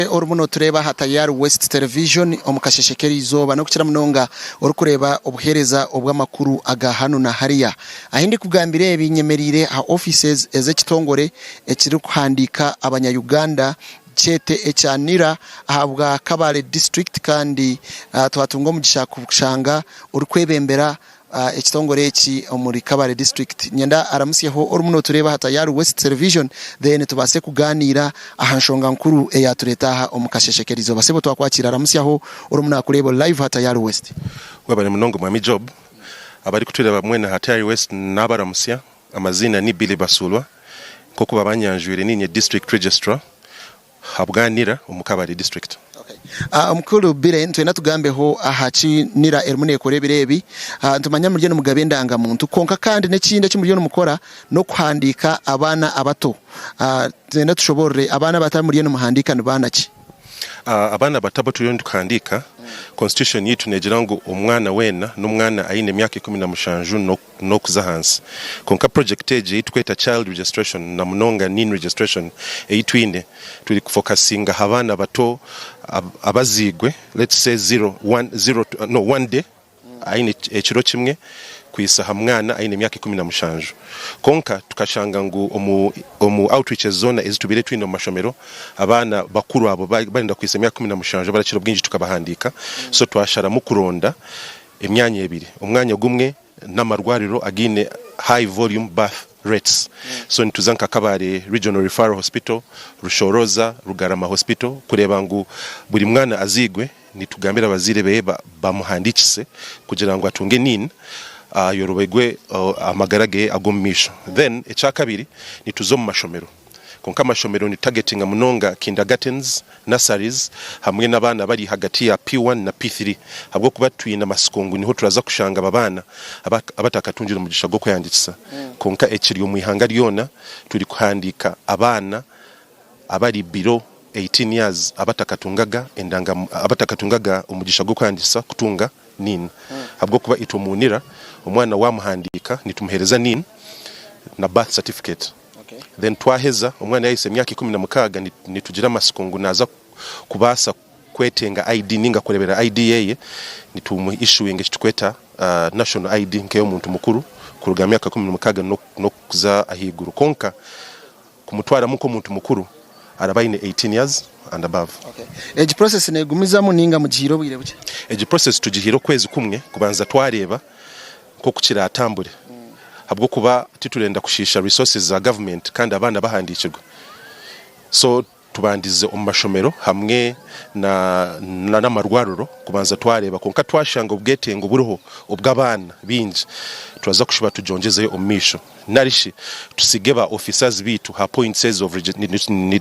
Nyowe orimu notureeba aha Tayari West Television omu kasheshe k'erizooba n'okukira munonga orikureeba obuheereza obw'amakuru aga hanu na hariya. Ahi ndikugambira ebi nyemereire aha offices ez'ekitongore ekirikuhandiika abanya-Uganda kyete ekya nira ahabwa Kabale District kandi twatunga omugisha kushanga orikwebembera ekitongore eki omuri kabale district nyenda aramusyeho orumu notureeba aha tayari west television then tubaase kugaaniira aha nshonga nkuru eyatureeta aha omu kasheshe kerizooba sebo twakwakiira aramusyaho orumu nakureeba ori live aha tayari west. Webale munonga mwami Job. Abari kutureba mwena aha Tayari West nabaramusya. Amaziina ni Billy Basulwa. Nkoku babanyanjwire ninye District Registrar ha Bwanira omu Kabale District. Mukuru Bire, nitwenda tugambeho aha ki nira erimu nekora ebiro ebi. Nitumanya muriyo nimugaba endangamuntu kwonka kandi n'ekindi eki muriyo nimukora n'okuhandiika abaana abato. Nitwenda tushoborore abaana abato abu muriyo nimuhandiika ni baana ki? Abaana abato abu turiyo nituhandiika, Constitution yaitu negira ngu omwana weena n'omwana aine emyaka ikumi na mushanju n'okuza ahansi. Kwonka project egi ei tukweta child registration na munonga Neen registration ei twine, turi ku focusinga aha baana bato abaziigwe let's say zero, one, zero to, no, one day, aine ekiro kimwe kuhisa aha mwana aine emyaka ikumi na mushanju. Kwonka tukashanga ngu omu omu outreaches zoona ezi tubaire twine omu mashomero, abaana bakuru abo barenda kuhisa emyaka ikumi na mushanju abarakira obwingi tukabahandiika, so twasharamu kuronda, emyanya ebiri omwanya gumwe namarwariro againe high volume birth rates so nituza nka kabale regional referral hospital, rushoroza, rugarama hospital kureba ngu buri mwana azigwe nitugambira abazaire beye bamuhandikise kugira ngu atunge nin ayorobegwe amagara geye agomumaisho then ekyakabiri nituza omumashomero. Kwonka amashomero ni targetinga munonga kindergartens, nurseries hamwe n'abaana abari hagati ya P1 na P3 ahabw'okuba twine amatsiko ngu niho turaza kushanga aba baana abatakatungire omugisha gw'okwehandiikisa kwonka ekiri omu ihanga ryona turi kuhandiika abaana abari below eighteen years abatakatungaga endanga abatakatungaga omugisha gw'okwehandiikisa kutunga NIN ahabw'okuba itwe mu UNIRA omwana wamuhandiika nitumuhereza NIN na birth certificate. Then twaheza, omwana yahitsya emyaka ikumi na mukaaga nitugira amatsiko ngu naaza kubaasa kwetenga ID ninga kureberera ID yeye, nitumu issuing eki tukweta National ID nk'eyomuntu mukuru kuruga aha myaka ikumi na mukaaga n'okuza ahaiguru kwonka kumutwaramu nk'omuntu mukuru araba aine eighteen years and above. Egi process negumizamu ninga mugihaire obwire bukye? Egi process tugihaire okwezi kumwe kubanza twareeba nk'oku kiraatambure ahabw'okuba titurenda kushiisha resources za government kandi abaana bahandiikirwe so tubandize omu mashomero hamwe na n'amarwariro kubanza twareeba kwonka twashanga obwetengo buriho obw'abaana baingi turaza kushuba tugyongyezeyo omu maisho. nari shi tutsige ba officers baitu ha points ezo of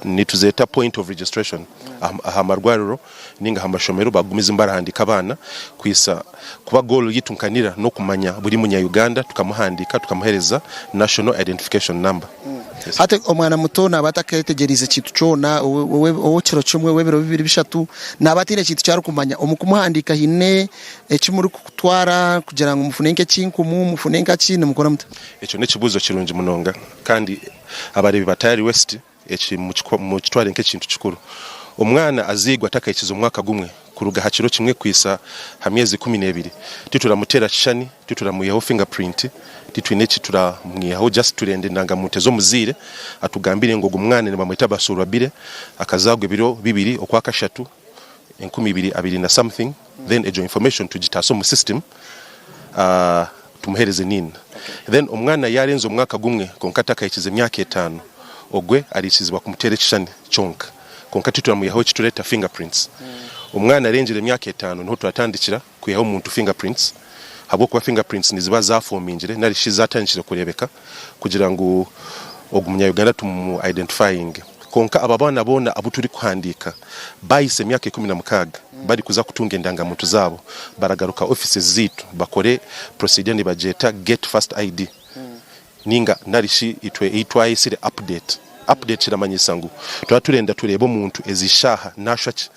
nituzeeta point of registration aha marwariro ninga aha mashomero bagumize nibarahandiika abaana kuhisa kuba goal yaitu nka nira n'okumanya buri munya Uganda tukamuhandiika tukamuhereza national identification number. Hati omwana muto naba ataketegyereize kintu kyona ow'ekiro kimwe, ow'ebiro bibiri, bishatu, naba ataine kintu kyarikumanya omu kumuhandiika haine eki muri Twara kugira ngu mufune nk'ekinkumu, mufune nkaki, nimukora muta? Ekyo n'ekibuuzo kirungi munonga, kandi abareebi ba Tayari West eki mukitware nk'ekintu kikuru. Omwana azairwe atakahikize omwaka gumwe, kuruga aha kiro kimwe kuhitsya ha myezi ikumi n'ebiri, tituramuteera kishushani, tituramwihaho finger print, titwine eki turamwihaho, just turenda endangamuntu eze omuzaire atugambire ngu ogu mwana nibamweta Basuurwabire, akazaarwa ebiro bibiri okwa kashatu, enkumi ibiri abiri na something then egyo information tugitaase omu system tumuhereze nin then omwana yarenza omwaka gumwe kwonka atakahikize emyaka etano ogwe arikizibwa kumuteera ekishani kyonka kwonka tituramuyaho ekitureta finger prints omwana arengire emyaka etano niho turatandikira kwihaho omuntu fingerprints ahabw'okuba fingerprints niziba zafomingire nari shi zatandikire kurebeka kugira ngu ogu munyayuganda tumu identifyinge. Konka aba baana boona abu turi kuhandika bayisa emyaka ikumi na mukaaga bari kuza kutunga endangamuntu zabo baragaruka offices zitu bakore procedure nibagyeta get first ID Ninga nari shi itwe ei twayesire update. Update kiramanyisa ngu turaba turenda tureebe omuntu ezi shaaha nashwa ki.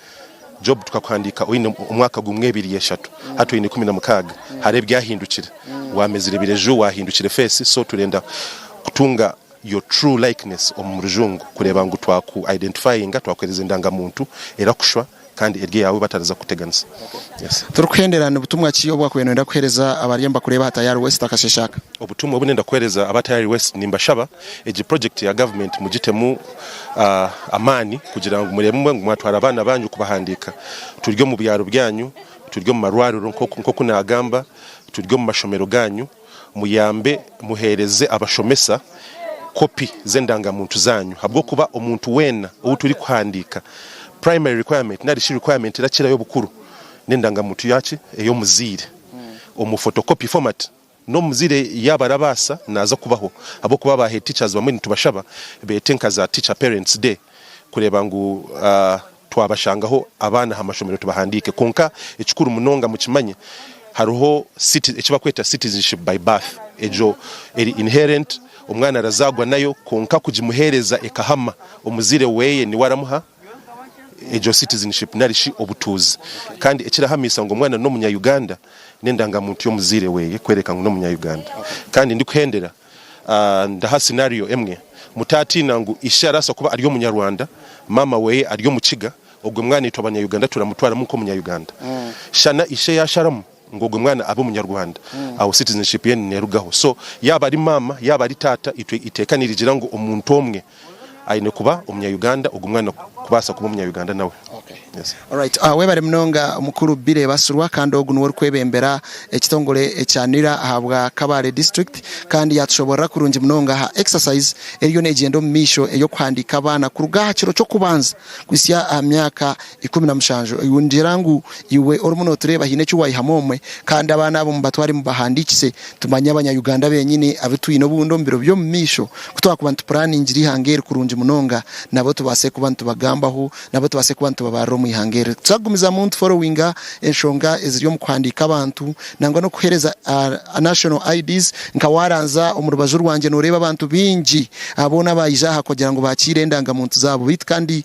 Job tukakuhandiika oine omwaka gumwe, ebiri, eshatu hati oine ikumi na mukaaga. Hariho ebyahindukire. Wamezire ebireju, wahindukire face so turenda kutunga your true likeness omu rujungu kureeba ngu twaku identifyinga, twakuhereza endangamuntu erakushwa. kandi eryo Yahwe batariza kukuteganisa. Yes. Turikuhendera ni butumwa ki obu wakubaire noyenda kuhereza abariyo nibakureeba aha Tayari West akasheshe aka? Obutumwa obu nenda kuhereza aba Tayari West, nimbashaba egi project ya government mugitemu amaani kugira ngu mureebe ngu mwatwara abaana banyu kubahandiika. Turi omu byaro byanyu, turi omu marwariro nkoku nagamba, turi omu mashomero ganyu. Muyambe muheereze abashomesa kopi z'endangamuntu zaanyu ahabw'okuba omuntu weena ou turikuhandiika, primary requirement nari shi requirement erakirayo obukuru n'endangamuntu yaaki ey'omuzaire omu photocopy format. N'omuzaire yaaba arabaasa naaza kubaho ahabw'okuba aba head teachers bamwe nitubashaba beete nka za teacher parents day kureeba ngu Twabashangaho abaana aha mashomero tubahandiike kwonka ekikuru munonga mukimanye hariho ekibakweta citizenship by birth egyo eri inherent omwana arazaagwa nayo kwonka kugimuheereza ekahama omuzaire weeye niwe aramuha egyo citizenship nari shi obutuuzi kandi ekirahamiisa ngu omwana n'omunya Uganda n'endangamuntu y'omuzaire weeye kworeka ngu n'omunya Uganda kandi ndikuhendera Ndaha scenario emwe, mutatiina ngu ishe arasa kuba ari omunyarwanda, maama weye ari omukiga, ogwe mwana itwe abanyayuganda turamutwaramu nk'omunyayuganda. Shana ishe yasharamu ngu ogwe mwana abe omunyarwanda, aho citizenship ye nerugaho. So yaba ari maama yaba ari taata itwe iteeka nirigira ngu omuntu omwe aine kuba omunya Uganda ogu mwana kubasa kuba omunya Uganda nawe yes. Alright webare munonga mukuru Billy Basirwa kandi ogu niwe orikwebembera ekitongore ekya nira ahabwa Kabale district kandi yatushoborera kurungi munonga aha exercise eriyo negyenda omumaisho eyokuhandika abaana kuruga aha kiro kyokubanza kuhitsya aha myaka ikumi na mushanju. Ningira ngu iwe orimu notureeba haine eki wayihamu omwe kandi abaana abo mubatware mubahandikise tumanye abanya Uganda benyini abu twine obundi omu biro byomu maisho ku twakuba nitupuraningire ihanga eri kurungi munonga nabo tubaase kuba nitubagambaho nabo tubaase kuba nitubabarira omu ihanga eri tuza kugumizamu nitu followinga enshonga eziri omu kuhandiika abantu nangwa nokuhereza national IDs nka waranzya omu rubaju rwangye noreeba abantu bingi boona abayija aha kugira ngu bakiire endanga muntu zaabo beitu kandi